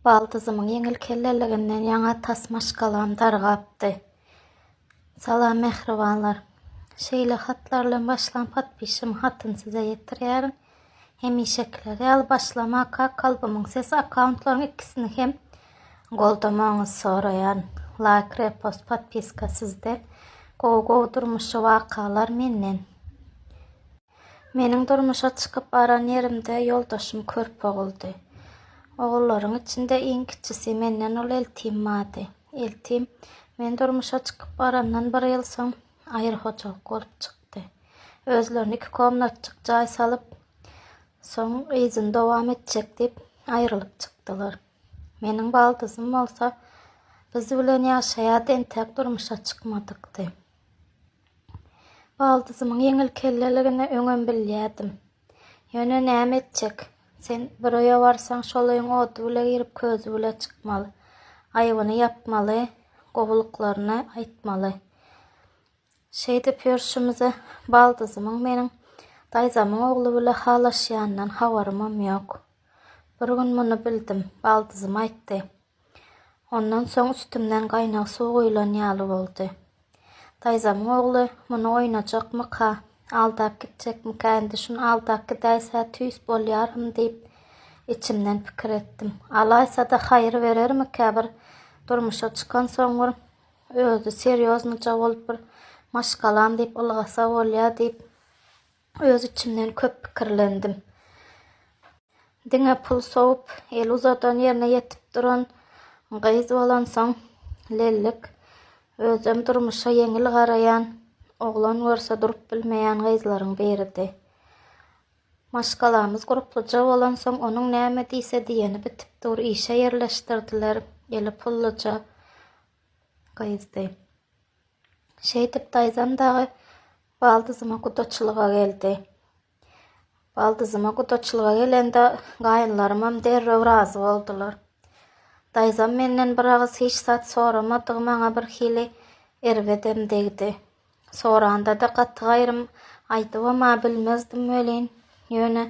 Baldysymyň ýeňil kelleliginden ýaňa tas maşgalam dargapdy. Salam mähribanlar. Şeýle hatlar bilen başlan podpişigiň hatyny size ýetirýärin. Hemişekiler ýaly başlamaka Kalbymyň sesi akkauntlaryň ikisini hem goldamagyňyzy soraýan. Laýk, repost, podpiska sizden. Gowy gowy durmuşy wakalar menden. Meniň durmuşa çykyp baran ýerimde ýoldaşym körpe oguldy. Ogullaryň içinde iň kiçisi, menden uly Eltim bardy. Eltim, men durmuşa çykyp barandan bir ýyl soň, aýry hojalyk bolup çykdy. Özlerine iki komnatjyk jaý salyp, soň yzyny dowam etjek diýip, aýrylyp çykdylar. Meniň baldyzym bolsa, biz bilen ýaşaýardy, entek durmuşa çykmadykdy. Baldysymyň ýeňil kelleligini öňem bilýärdim. Ýöne näme etjek? Sen bir öýe barsaň, şol öýüň ody bile girip, közi bile çykmaly. Aýbyny ýapmaly, gowulyklaryny aýtmaly. Şeýdip ýörşümize, Baldysymyň meniň daýzamyň ogly bile halaşýanyndan habarymam ýok. Bir gün muny bildim. Baldysym aýtdy. Ondan soň üstümden gaýnag suw guýlan ýaly boldy. Daýzamyň ogly, Muny oýnajakmyka, aldap gitjekmikä, indi şuny aldap gidäýse tüýs bolýaryn diýip, içimden pikir etdim. Alaýsa-da haýyr berermikä, bir durmuşa çykansoň bir özi serýoznyja bolup bir maşgalam diýip ylgasa bolýa diýip, Öz içimden köp pikirlendim. Diňe pul sowup, el uzadan ýerine ýetip duran gyz bolansoň, lellik, özem durmuşa ýeňil garaýan, oglan görse durup bilmeýän gyzlaryň biridi. Maşgalamyz gurpluja bolansoň, onuň näme diýse diýeni bitip dur, işe ýerleşdirdiler, eli pulluja gyzdy. Şeýdip daýzam dagy baldyzyma gudaçylyga geldi. Baldyzyma gudaçylyga gelende gaýynlarymam derrew razy boldular. Daýzam menden bir agyz hiç zat soramadygy maňa birhili erbedem degdi. Soranda-da gaty gaýrym aýdybam-a bilmezdim welin, ýöne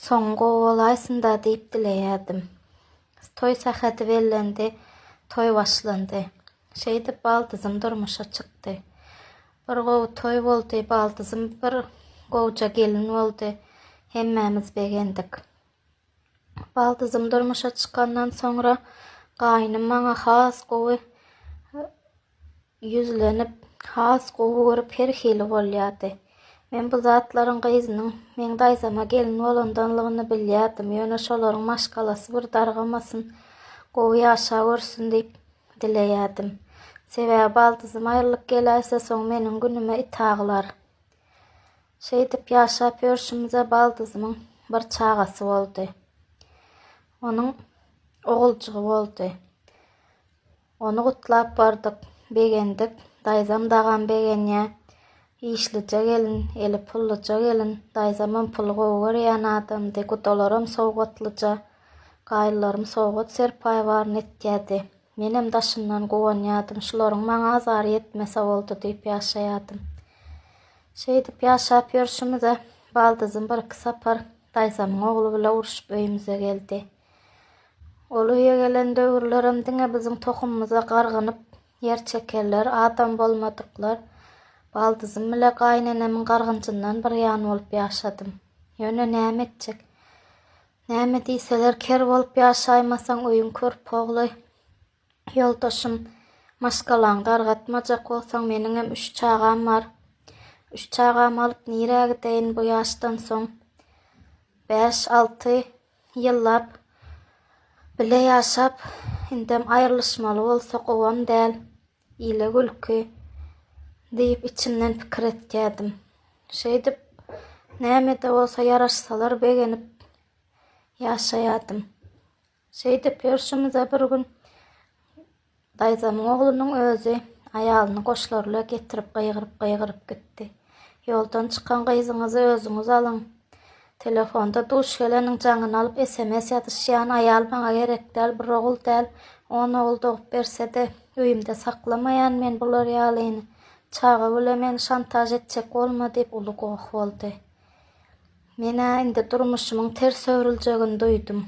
Soňy gowy bolaýsynda diýip dileýärdim. Toý sähedi bellendi, toý başlandy. Şeýdip baldyzym durmuşa çykdy. Bir gowy toý boldy, baldyzym bir gowja gelin boldy, hemmämiz begendik. Baldyzym durmuşa çykandan soňra gaýnym maňa has gowy ýüzlenip, has gowy görüp her hili bolýardy. Men bu zatlaryň gyzynyň meň daýzama gelin bolandanlygyny bilýärdim, ýöne şolaryň maşgalasy bir dargamasyn, gowy ýaşawersin diýip dileýärdim. Sebäbi baldyzym aýrylyp geläýse, soň meniň günüme it aglar. Şeýdip ýaşap ýörşümize baldyzymyň bir çagasy boldy. Onuň oguljygy boldy. Ony gutlap bardyk. Begendik. Daýzam dagam begenýä. Işlije gelin, eli pullyja gelin. Daýzamam puly gowy görýän adamdy. Gudalaram sowgatlyja. Gaýylalarym sowgat serpaýbaryny etýärdi. Menem daşyndan guwanýardym. Şularyň maňa azary ýetmese boldy diýip ýaşaýardym. Şeýdip ýaşap ýörşümize, baldyzym birki sapar daýzamyň ogly bile uruşyp öýümize geldi. Ol öýe gelen döwürlerem diňe biziň tohumymyza gargynyp ýer çekerler, adam bolmadyklar. Baldyzym bile gaýynenemiň gargynjyndan bir ýan bolup ýaşadym. Ýöne näme etjek? Näme diýseler, ker bolup ýaşaýmasaň, öýüň körpogly. Ýoldaşym, Maşgalaňy dargatmajak bolsaň, meniňem üç çagam bar. Üç çagamy alyp nirä gideýin bu ýaşdan soň? Bäş, alty Ýyllap bile ýaşap, indem aýrylyşmaly bolsak gowam däl, ile gülki diýip içimden pikir etýärdim. Şeýdip, näme-de bolsa ýaraşsalar begenip ýaşaýardym. Şeýdip ýörşümizde bir gün Daýzamyň oglunyň özi aýalyny goşlaryla getirip gygyryp-gygyryp gitdi. Ýoldan çykan gyzyňyzy özüňiz alyň. Telefonda duş geleniň jaňyny alyp sms ýazyşýan aýal maňa gerek däl, bir ogul däl, on ogul dogup berse-de, öýümde saklamaýan men bular ýalyny. Çaga bile meni şantaž etjek bolma diýip uly goh boldy. Men-ä indi durmuşymyň ters öwrüljegini duýdum.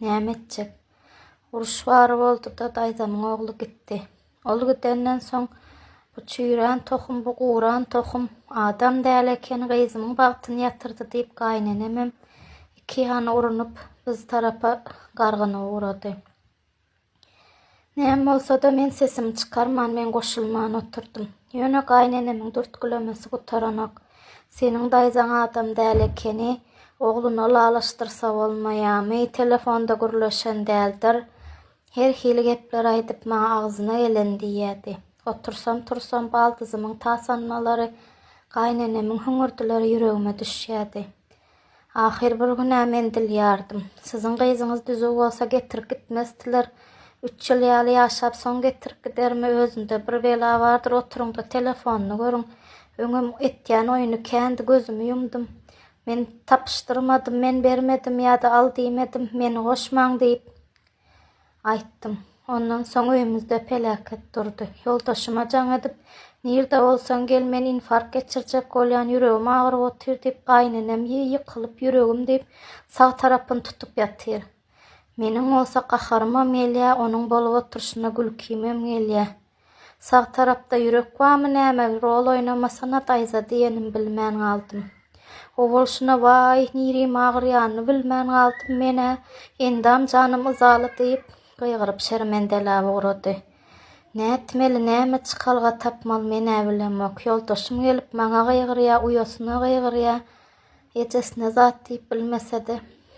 Näme etjek? Uruş bar boldy-da, daýzamyň ogly gitdi. Ol gidenden soň, Bu çüýrän tohum, bu guran tohum, adam däl eken, gyzymyň bagtyny ýatyrdy diýip, gaýynenemem iki ýana urunyp, biz tarapa gargyna ugrady. Näme bolsa-da, men sesimi çykarman, men goşulman oturdym. Ýöne gaýynenemiň dürtgülemesi gutaranok. Seniň daýzaň adam däl ekeni, ogluna ylalaşdyrsa bolmaýamy, telefonda gürleşen däldir. Her hili gepler aýdyp maňa agzyna geleni diýýärdi. Otursam-tursam baldyzymyň tasanmalary, gaýynenemiň hüňürdileri ýüregime düşýärdi. Ahyr bir gün-ä men dilýärdim. Siziň gyzyňyz düzüw bolsa getirip gitmezdiler. Üç ýyl ýaly ýaşap soň getirip gidermi, özünde bir bela bardyr, oturyň-da telefonyny görüň. Öňem etýän oýuny kändi, gözümi ýumdum. Men tapyşdyrmadym, men bermedim ýa-da al diýmedim, meni goşmaň diýip. Aýtdym. Ondan soň öýümizde peläket durdy. Ýoldaşyma jaň edip, Nirde bolsaň gel, men infarkt geçirjek bolýan, ýüregim agyryp otyr diýip, gaýynenem ýy ýykylyp ýüregim diýip, sag tarapyny tutup ýatyr. Meniň bolsa gaharymam gelýä, onuň bolup oturyşyna gülkimem gelýä. Sag tarapda ýürek bamy näme rol oýnamasana daýza diýenim bilmän galdym. Owalşyna waý nirim agyrýanyny bilmän galdym menä endam janym yzaly diýip gygyryp şermendelä ugrady. Nätmeli näme çykalga tapmaly menä bilemok ýoldaşym gelip maňa gygyrýa uýasyna gygyrýa ejesine zat diýip bilmesede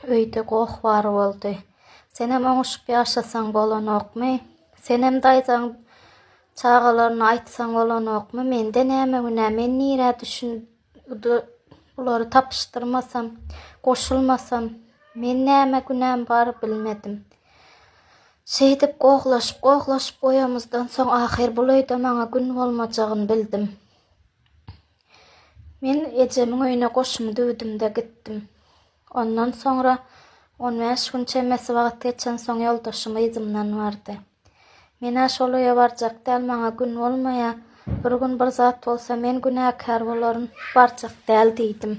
öýde goh bar boldy. Senem oňuşyp ýaşasaň bolanokmy? Senem daýzaň çagalaryna aýtsaň bolanokmy? Mende näme günä? Men nirä düşün bulary tapyşdyrmasam, goşulmasam? Men näme günäm bar bilmedim. Şeýdip gohlaşyp-gohlaşyp oýamyzdan soň ahyr bul öýde maňa gün bolmajagyny bildim. Men ejemiň öýüne goşumy düwdüm-de gitdim. Ondan soňra on bäş gün çemesi wagt geçensoň ýoldaşym yzymdan bardy. Men-ä şol öýe barjak däl, maňa gün bolmaýa, bir gün bir zat bolsa men günäkär bolaryn, barjak däl diýdim.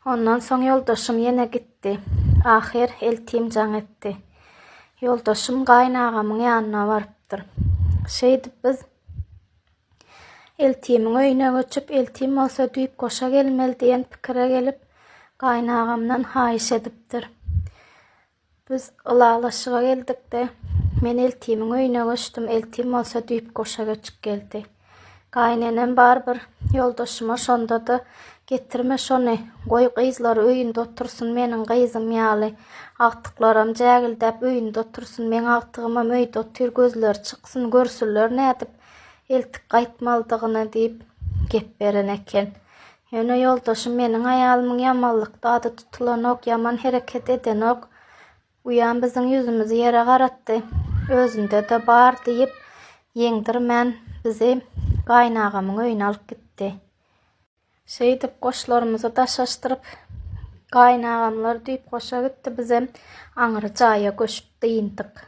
Ondan soň ýoldaşym ýene gitdi. Ahyr eltim jaň etdi. Ýoldaşym gaýynagamyň ýanyna barypdyr. Şeýdip biz. Eltimiň öýüne göçüp, eltim bolsa düýp goşa gelmeli diýen pikire gelip, gaýynagamdan haýyş edipdir. Biz ylalaşyga geldik-de, men eltimiň öýüne göçdüm, eltim bolsa düýp goşa göçüp geldi. Gaýynenem barybir ýoldaşyma şonda-da, Getirme şony, goý gyzlar öýünde otursyn meniň gyzym ýaly, agtyklaram jägildäp öýünde otursyn, meň agtygymam öýde otyr, gözleri çyksyn, görsünler nädip, eltip gaýtmalydygyna diýip gep beren eken. Ýöne ýoldaşym meniň aýalymyň ýamanlykda ady tutulanok, ýaman hereket edenok. Uýam biziň ýüzümizi ýere garatdy. Özünde-de bar diýip, ýeňdirmän bizi gaýynagamyň öýüne alyp gitdi. Şeýdip goşlarymyzy daşaşdyryp, gaýynagamlar düýpgoşa gitdi, bizem aňry jaýa göçüp dyndyk.